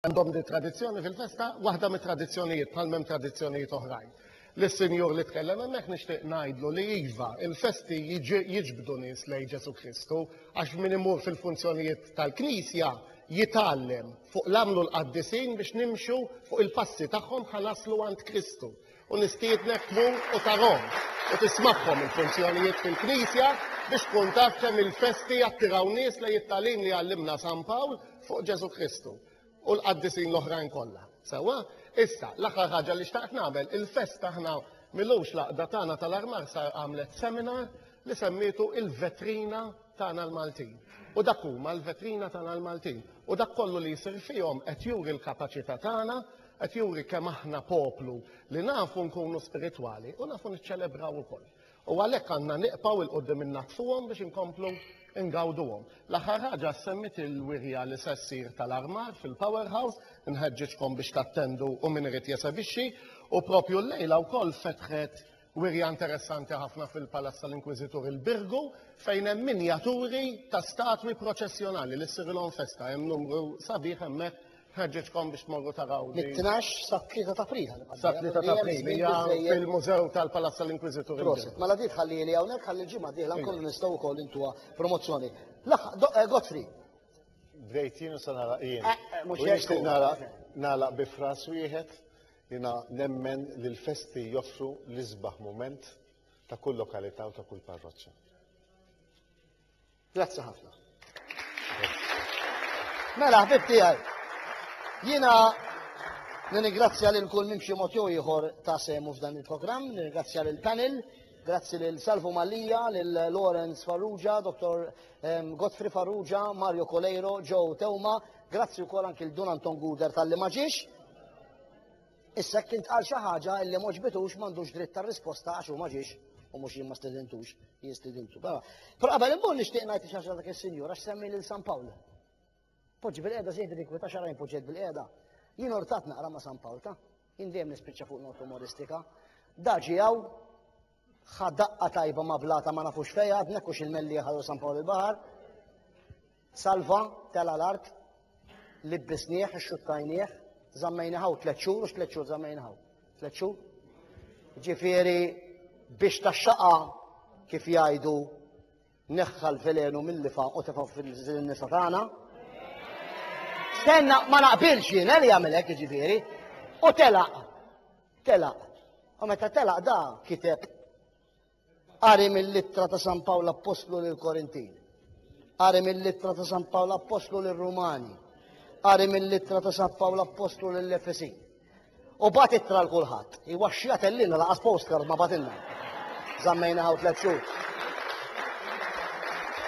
għandhom di tradizzjoni fil-festa, waħda mit tradizzjonijiet bħal mem tradizzjonijiet oħrajn. L-Sinjur li tkellem hemmhekk nixtieq ngħidlu li iva, il-festi jiġbdu nies lejn Ġesu Kristu għax min imur fil-funzjonijiet tal-Knisja jitgħallem fuq l-għamlu l-qaddisin biex nimxu fuq il-passi tagħhom ħa naslu għand Kristu. U nistiednek tmur u tarahom u tismagħhom il-funzjonijiet fil-Knisja biex tkun taf kemm il-festi jattiraw nies lejn it-tagħlim li għallimna San Pawl fuq Ġesù Kristu u l-qaddisin l-oħrajn kollha. Sewwa? Issa, l-aħħar ħaġa li xtaqt nagħmel, il-festa aħna mil-għoxlaqda tagħna tal-armar sar għamlet seminar li semmietu Il-Vetrina tagħna l-Maltin. U dak huma l-vetrina tagħna l-Maltin. U dak kollu li jsir fihom qed juri l-kapaċità tagħna, qed juri kemm aħna poplu li nafu nkunu spiritwali u nafu niċċelebraw ukoll. U għalhekk għandna niqpaw il qudiem innatfuhom biex inkomplu ingawduhom. L-aħħar ħaġa semmit il-wirja li se ssir tal-armar fil-Powerhouse, nħeġġiġkom biex tattendu u min irid jesebixxi, u propju llejla wkoll fetħet Wirja interessanti ħafna fil-Palazz tal-Inkwiżitur il-Birgu fejn hemm minjaturi ta' statwi proċessjonali li ssirilhom festa. Hemm numru sabiħ hemmhekk ħeġġeġkom biex tmorru taraw. Mit-12 sat-3 ta' April. Sat-3 ta' April hija fil-Mużew tal-Palazz tal-Inkwiżitur. Prosit. Mela di tħallieli hawnhekk ħalli l-ġimgħa dieħla nkunu nistgħu wkoll intuha promozzjoni. Eh, Godfrey. Bdejt jien u se naraq jien. Eh, eh, mhux jekk. Nixtieq naraq nagħlaq bi fras wieħed Jiena nemmen li l-festi joffru l-isbaħ mument ta' kull lokalità u ta' kull parroċċa. Grazzi ħafna. Mela, ħbib tiegħi. Jiena nirringrazzja lil kull minn xi mod jew ieħor ta' semu f'dan il-programm, nirringrazzja lil panel, grazzi lil Salvo Mallia, lil Lawrence Farrugia, Dr. Godfrey Farrugia, Mario Coleiro, Joe Teuma, Grazzi wkoll anki l Dun Anton Guder talli ma ġiex. Issa kien tqal xi ħaġa li ma ġbitux m'għandux dritt ta' risposta għax hu ma ġiex u mhux jien ma stedintux, jien stedintu. Però qabel immur nixtieq ngħid xi ħaġa dak is-Sinjur għax semmi lil San Pawl. Poġġi bil-qiegħda żejt dik ta' xarajn poġġet bil-qiegħda. Jien ortat naqra ma' San Pawl ta' jien dejjem nispiċċa fuq not umoristika. Daġi hawn ħa daqqa tajba ma' blata ma nafux fejn għadnek u xil-melli ħallu San Pawl il-Baħar. Salva tela' l-art, libbisnieh, ixxuttajnieh, żammejnieh hawn tliet xhur u x'tliet xhur żammejnieh hawn. Tliet xhur? Ġifieri biex taxxaqa kif jgħidu neħħa l-velenu mill-lifa u tefa' fil-nisa tagħna. Senna ma naqbilx jien eh, li jagħmel hekk jiġifieri. U telaq. Telaq. U meta telaq da kiteb Qari mill-ittra ta' San Pawl Appostlu lil Korintin. Qari mill-ittra ta' San Pawl Appostlu lil Rumani. Qari mill-ittra ta' San Pawl Appostlu lil Efesin. U bat ittra l kulħadd. Iwaxxija tellina laqas postcard ma batilna. Zammejna ħaw tliet xhur.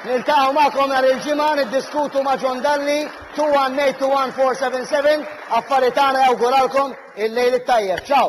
Niltaw ma'kom nhar il-ġimgħa niddiskutu ma' John Dalli 2182147 affarijiet tagħna jawguralkom il-lejl it-tajjeb. Ciao!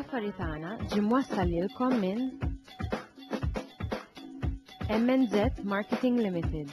Affari tagħna ġie mwassal lilkom minn MNZ Marketing Limited.